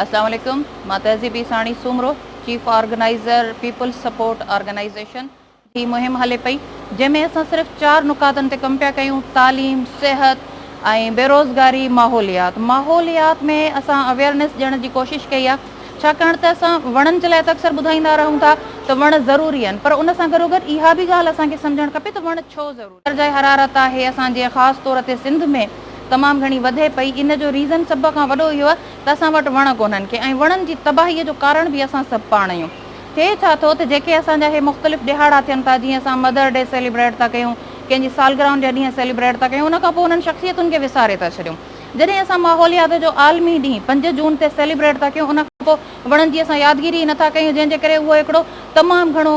السلام عليڪم مان تهذيبي Sani Soomro chief organiser people's support organisation هي مهم هلي پئي جنهن ۾ اسان صرف چار نقاطن تي ڪم پيا ڪيون تعليم صحت ۽ بيروزگاري ماحوليات ماحوليات ۾ اسان اويرنس ڏيڻ جي ڪوشش ڪئي آهي ڇاڪاڻ ته اسان وڻن جي لاء ته اڪثر ٻڌائيندا رهون ٿا ته وڻ ضروري آهن پر ان سان گڏوگڏ اها به ڳالهه اسان کي سمجهڻ کپي ته وڻ ڇو ضروري درجه حرارت آهي اسان جي خاص طور تي سنڌ ۾ تمام گهڻي وڌي پئي ان جو ريزن سڀ کان وڏو اهو آهي ته اسان وٽ وڻ ڪونهن کي ۽ وڻن جي تباهي جو ڪارڻ به اسان سڀ پاڻ اهيون ٿئي ڇا ٿو ته جيڪي اسان جا هي مختلف ڏهاڙا ٿين ٿا جيئن اسان مدر ڊي سيليبريٽ ٿا ڪيون ڪنهن جي سالگرهن جا ڏينهن سيليبريٽ ٿا ڪيون ان کان پوء انهن شخصيتن کي وساري ٿا ڇڏيون جڏهن اسان ماحوليات جو عالمي ڏينهن پنج جون تي سيليبريٽ ٿا ڪيون ان کان پوء وڻن جي اسان يادگيري ئي نٿا ڪيون جنهن جي ڪري اهو هڪڙو تمام گهڻو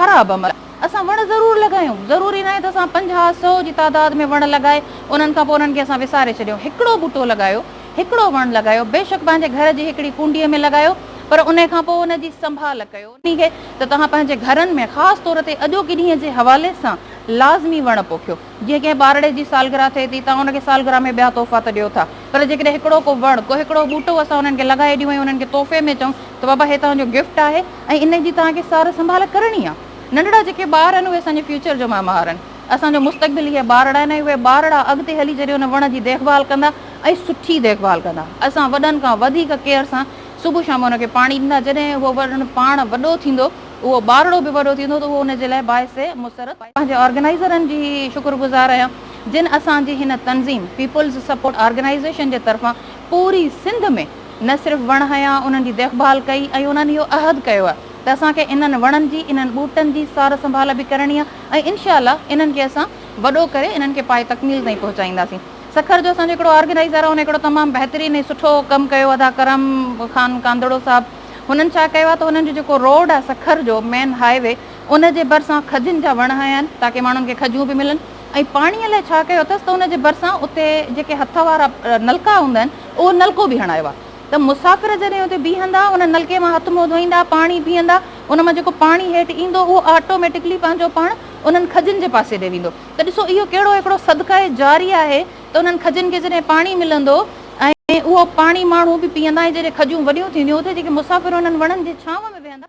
خراب عمل اسان وڻ ضرور لڳايون، ضروري ناهي ته اسان پنجاهه سؤ جي تعداد ۾ وڻ لڳائي انهن کان پوء انهن کي اسان وساري ڇڏيون، هڪڙو ٻوٽو لڳايو، هڪڙو وڻ لڳايو، بيشڪ پنهنجي گهر جي هڪڙي ڪونڊيء ۾ لڳايو، پر انهي کان پوء ان جي سنڀال ڪيو. انهي کي ته توهان پنهنجي گهرن ۾ خاص طور تي اڄوڪي ڏينهن جي حوالي سان لازمي وڻ پوکيو. جيئن ڪنهن ٻارڙي جي سالگرهه ٿئي ٿي، توهان ان کي سالگرهه ۾ ٻيا تحفا ته ڏيو ٿا، پر جيڪڏهن هڪڙو ڪو وڻ، ڪو هڪڙو ٻوٽو اسان انهن کي لڳائي ڏيون ۽ انهن کي تحفي ۾ چئون ته بابا هي توهان جو گفٽ آهي ۽ ان جي توهان کي سار سنڀال ڪرڻي آهي. ننڍڙا جيڪي ٻار آهن، اهي اسان جي فيوچر جو معمار آهن. اسان جو مستقبل اهي ٻارڙا آهن ۽ اهي ٻارڙا اڳتي هلي جڏهن ان وڻ جي ديک ڀال ڪندا ۽ سٺي ديک ڀال ڪندا، اسان وڏن کان وڌيڪ ڪيئر سان صبح شام ان کي پاڻي ڏيندا، جڏهن اهو وڻ پاڻ وڏو ٿيندو اهو ٻارڙو به وڏو ٿيندو ته اهو ان جي لاء باعث مسرت. پنهنجي آرگنائيزرن جي شڪر گذار آهيان جن اسان جي هن تنظيم پيپلز سپورٽ آرگنائيزيشن جي طرفان پوري سنڌ ۾ نه صرف وڻ هنيا انهن جي ديک ڀال ڪئي ۽ انهن اهو عهد ڪيو آهي ته اسان کي انهن وڻن جي انهن ٻوٽن جي سار سنڀال به ڪرڻي آهي ۽ انشاء الله انهن کي اسان وڏو ڪري انهن کي پايي تڪميل تائين پهچائينداسين سکر جو اسان جو هڪڙو آرگنائيزر آهي ان هڪڙو تمام بهترين ۽ سٺو ڪم ڪيو ادا ڪرم خان ڪانڌڙو صاحب. هنن ڇا ڪيو آهي ته هنن جو جيڪو روڊ آهي سکر جو مين هاء وي ان جي ڀرسان کجين جا وڻ هنيا آهن تاڪي ماڻهن کي کجون به ملن ۽ پاڻي لاء ڇا ڪيو اٿس ته ان جي ڀرسان اتي جيڪي هٿ وارا نلڪا هوندا آهن اهو نلڪو به هڻايو آهي ته مسافر جڏهن اتي بيهندا ان نلڪي مان هٿ منهن ڌوئيندا پاڻي پيئندا ان مان جيڪو پاڻي هيٺ ايندو اهو آٽوميٽڪلي پنهنجو پاڻ انهن کجين جي پاسي ڏي ويندو ته ڏسو اهو ڪهڙو هڪڙو صدقه جاري آهي ته انهن کجن کي جڏهن پاڻي ملندو ۽ اهو پاڻي ماڻهو به پيئندا ۽ جڏهن کجون وڏيون ٿينديون اتي جيڪي مسافر انهن وڻن جي ڇانو ۾ ويهندا.